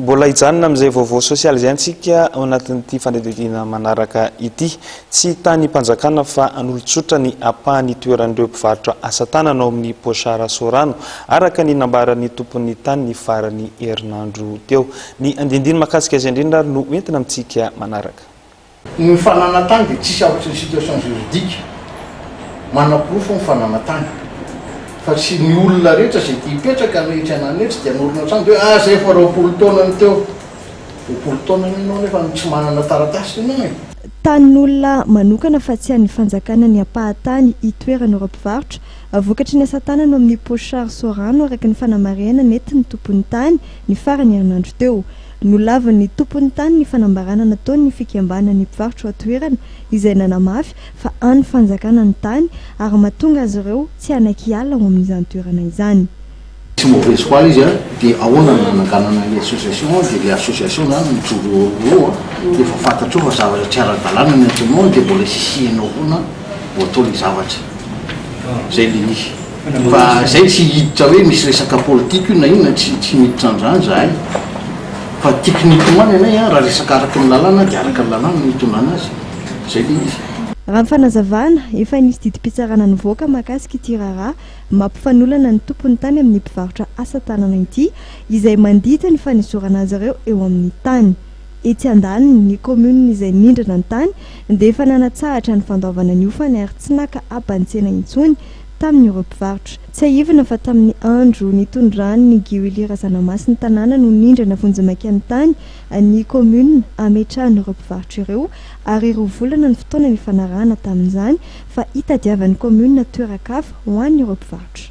Mbola hijanona amin'izay vaovao sosialy izay antsika ao anatin'ity fanadihadiana manaraka ity. Tsy tanim-panjakana fa an'olon-tsotra ny ampahany itoeran'ireo mpivarotra asa tanana ao amin'ny Pochard Sorano, araka ny nambaran'ny tompon'ny tany ny faran'ny herinandro teo. Ny andiandiany mahakasika azy indrindra ary no entina amintsika manaraka. Ny fananan-tany dia tsisy afatsy ny situation juridique manaporofo ny fananan-tany fa tsy ny olona rehetra izay te hipetraka na etsy na an'etsy dia hanorina hatrany dia hoe aza efa roapolo taona ny teo, roapolo taona anie ianao nefa tsy manana taratasy ianao e! Tanin'olona manokana fa tsy an'ny fanjakana ny ampahan-tany itoeranao Rapivarotra vokatry ny asatanana ao amin'ny Pochard Sorano araka ny fanamarihana nentin'ny tompon'ny tany ny faran'ny herinandro teo. Nolavin'ny tompon'ny tany ny fanambarana nataon'ny fikambanan'ny mpivarotra ao an-toerana izay nanamafy fa an'ny fanjakana ny tany ary mahatonga azy ireo tsy hanaiky hiala ao amin'izany toerana izany. Tsy mauvaise foi izy an, dia ahoana no nananganana ny association an, dia ilay association zany mijoro eo amin'ny eo an, dia efa fantatrao fa zavatra tsy ara-dalàna ny antsoinao an, dia mbola hisihinao foana an, vao atao ilay zavatra, zay ilay izy. Fa zay tsy hiditra hoe misy resaka politika io na inona tsy tsy miditra anzany zahay fa techniquement ny anay an raha resaka araky ny lalàna dia araka ny lalàna no hitondrana azy zay le izy. Raha ny fanazavana, efa nisy didim-pitsarana nivoaka mahakasika ity raharaha mampifanolana ny tompony tany amin'ny mpivarotra asa tanana ity izay mandidy ny fanizorana azy ireo eo amin'ny tany. Etsy andaniny, ny kaominina izay nindrana ny tany dia efa nanatsahatra ny fandoavana ny hofany ary tsy naka haba ny tsena intsony tamin'ireo mpivarotra. Tsiahivina fa tamin'ny andro nitondrany ny Giwili Razanamaso ny tanàna no nindrana vonjimaika ny tany ny kaominina hametrahany ireo mpivarotra ireo ary roa volana ny fotoana nifanarahana tamin'izany fa hitadiavan'ny kaominina toeran-kafa ho an'ireo mpivarotra